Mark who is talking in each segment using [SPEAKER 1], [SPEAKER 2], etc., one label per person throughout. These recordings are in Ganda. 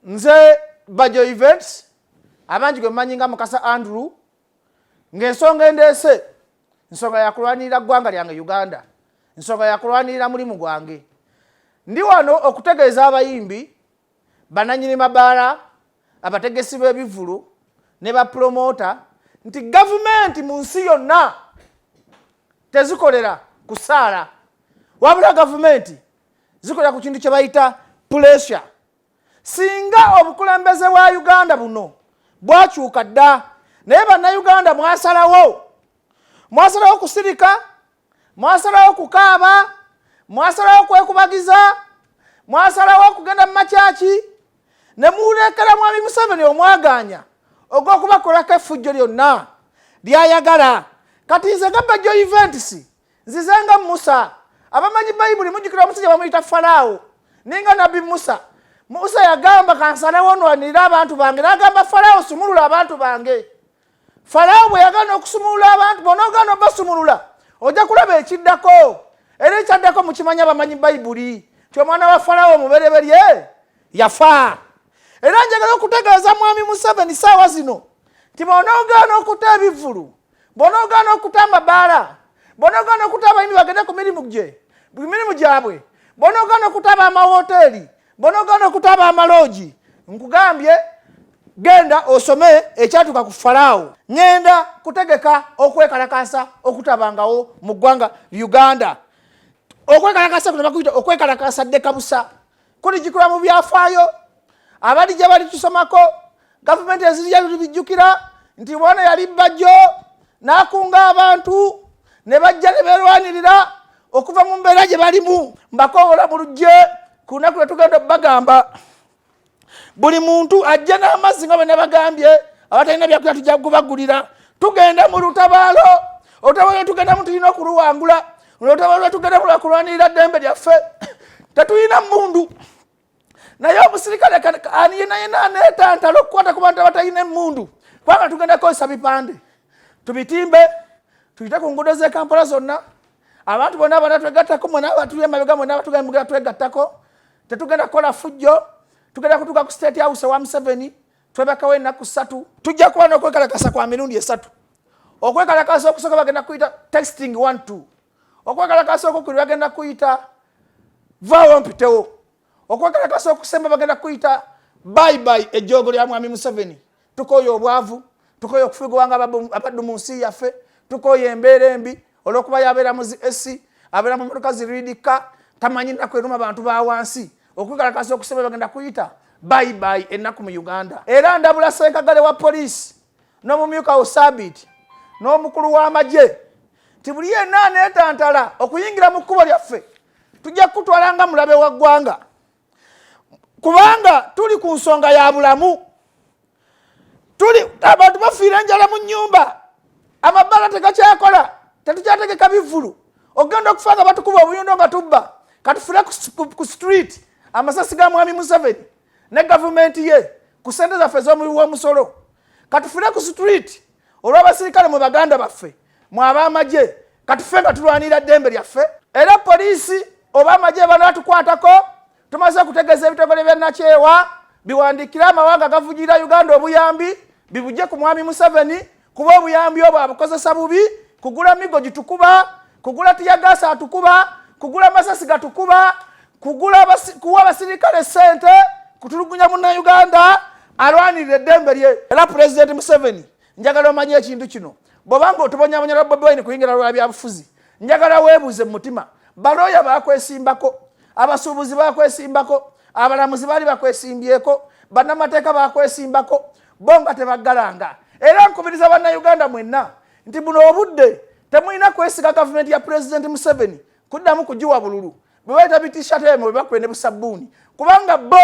[SPEAKER 1] nze bajo events abangi gwe mumanyi nga mukasa andrew ng'ensonga endeese nsonga yakulwanirira ggwanga lyange uganda nsonga yakulwanirira mulimu gwange ndi wano okutegeeza abayimbi bananyini mabaala abategesi b'ebivulu ne bapulomoota nti gavumenti mu nsi yonna tezikolera kusaala wabula gavumenti zikolera ku kintu kye bayita pulesure singa obukulembeze bwa uganda buno bwakyuka dda naye bannayuganda mwasalawo mwasalawo kusirika mwasalawo kukaaba mwasalawo kwekubagiza mwasalawo okugenda mu makyaki ne muwulekera mwami museveni omwaganya ogw'okubakolako effujjo lyonna lyayagala kati nze gabba jo eventisi nzize nga musa abamanyi bayibuli mujjukira omusajja bamuyita falaawo naye nga nabbi musa musa yagamba kansalawo nwanirire abantu bange nagamba falaawo sumulula abantu bange falaawo bwe yagana okusumulula abantu bona ogana obasumulula ojja kulaba ekiddako era ekyaddako mukimanyi abamanyi bayibuli nti omwana wa falaawo omubereberye yafa era njagala okutegeeza mwami museveni saawa zino nti bona ogana okuta ebivulu bw'onoogaana okuta amabaala bw'onoogaana okuta abayimbi bagende ku mirimu gye ku mirimu gyabwe bw'onoogaana okuta ab'amawooteeri bw'onoogaana okuta ab'amaloogi nkugambye genda osome ekyatuuka ku falaawo ŋenda kutegeka okwekalakaasa okutabangawo mu ggwanga uganda okwekalakasa kuno bakuyita okwekalakasa ddekabusa kuligikula mu byafaayo abali gye bali tusomako gavumenti ezirya bijjukira nti bona yali bajjo n'akunga abantu ne bajja ne beerwanirira okuva mu mbeera gye balimu mbakowola mu lujje ku lunaku lwe tugenda okubagamba buli muntu ajja n'amazzi nga bwe nabagambye abatalina byakulya tujja kubagulira tugenda mu lutabaalo olutabaalo tugendamu tulina okuluwangula olutalo lwetugenda kulwanirira ddembe lyaffe tetulina mundu naye omusirikale ani yenayena anetantala okukwata ku bantu abatalina emundu kubanga tugenda kukozesa bipande tubitimbe tuyite ku nguudo zekampala zonna abantu bona abana twegattako mwena abatuli emabega mwena abatugamugera twegattako tetugenda kukola fujjo tugenda kutuuka ku state house wa museveni twebakawo enaku satu tujja kuba nokwekalakasa kwa mirundi esatu okwekalakasa okusoka bagenda kuyita texting one two okwekalakasa okukuli bagenda kuyita vawo mpitewo okwekalakasa okusemba bagenda kuyita bye bye ejogo lya mwami museveni tukoyo obwavu tukoyo okufugwanga abaddu mu nsi yaffe tukoyo embeera embi olwokuba yabeera mu zi esi abeera mu motoka ziridika tamanyi nnaku eruma bantu ba wansi okwekalakasa okusoma bagenda kuyita bayibayi ennaku mu uganda era ndabula senkagale wa poliisi n'omumyuka wo sabiiti n'omukulu w'amagye nti buli yenna aneetantala okuyingira mu kkubo lyaffe tujja kukutwala nga mulabe wa ggwanga kubanga tuli ku nsonga ya bulamu tuli abantu bafiira enjala mu nyumba amabbala tegakyakola tetukyategeka bivulu ogenda okufa nga batukuba obuyondo nga tubba katufire ku street amasasi ga mwami museveni ne gavumenti ye ku sente zaffe zomuwi womusolo katufire ku street olw'abasirikale mu baganda baffe mu ab'amagye katufe nga tulwanira ddembe lyaffe era poliisi oba amagye banaatukwatako tumaze okutegeeza ebitongole bya nakyewa biwandiikire amawanga agavujirira uganda obuyambi bibujje ku mwami museveni kuba obuyambi obwo abukozesa bubi kugula migo gitukuba kugula tiyagaasi atukuba kugula masasi gatukuba kugula kuwa abasirikale sente kutulugunya munnayuganda alwanirira eddembe lye era pulezidenti museveni njagala omanye ekintu kino bwobanga otubonyabonya lwa bobi wine kuyingira lwa byabufuzi njagala weebuuze mu mutima balooya bakwesimbako abasuubuzi bakwesimbako abalamuzi baali bakwesimbyeko bannamateeka bakwesimbako bo nga tebagalanga era nkubiriza bannayuganda mwenna nti buno obudde temulina kwesiga gavumenti ya pulezidenti museveni kuddamu kugiwa bululu bwe bayita bitishatemu bwe bakube ne busabbuuni kubanga bo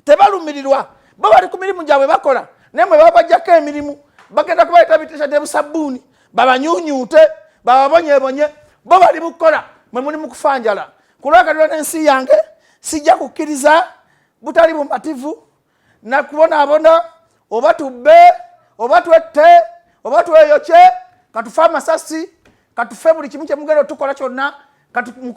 [SPEAKER 1] tebalumirirwa bo bali ku mirimu gyabwe bakola naye mwe babajjako emirimu bagenda kubayita bitisha ne busabbuuni babanyunyuute bababonyebonye bo bali mukukola mwe muli mu kufanjala kulwakatula n'ensi yange sijja kukkiriza butali bumativu nakubonaabona oba tubbe oba twette oba tweyokye katufe amasasi katufe buli kimu kyemugenda otukola kyonna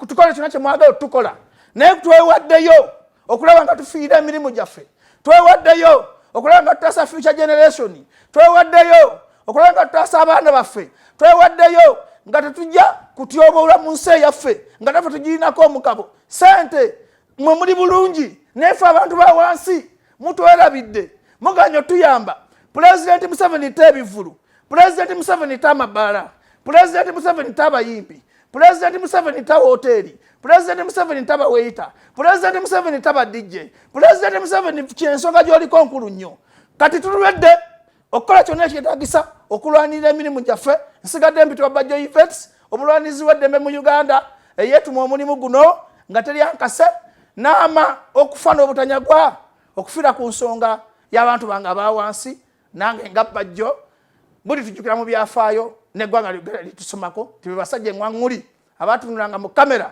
[SPEAKER 1] tukole kyonna kyemwagala otukola naye twewaddeyo okulaba nga tufiira emirimu gyaffe twewaddeyo okulaba nga tutaasa future generation twewaddeyo okulaba nga tutaasa abaana baffe twewaddeyo nga tetujja kutyoboolwa mu nsi eyaffe nga nafe tugirinako omugabo sente mwe muli bulungi nefe abantu ba wansi mutwerabidde muganyo tuyamba pulezidenti museveni ta ebivulu pulezidenti museveni ta amabaala pulezidenti museveni ta abayimbi pulezidenti museveni ta woteeri pulezidenti museveni ta baweyita pulezidenti museveni ta badijje pulezidenti museveni kyensonga gyoliko nkulu nnyo kati tulwedde okukola kyonna ekyetagisa okulwanirira emirimu gyaffe nsigadde mpitwa bajjo events omulwanizi weddembe mu uganda eyetuma omulimu guno nga teri ankase naama okufa n'obutanyagwa okufira ku nsonga y'abantu bange abawansi nange nga bajjo buli tujjukira mu byafaayo neggwanga lyogera litusomako ti bebasajja eŋwaŋŋuli abatunulanga mu kamera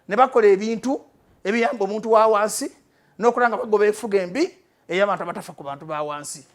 [SPEAKER 1] ne bakola ebintu ebiyamba omuntu wa wansi n'okulanga bagoba efuga embi ey'abantu abatafa ku bantu ba wansi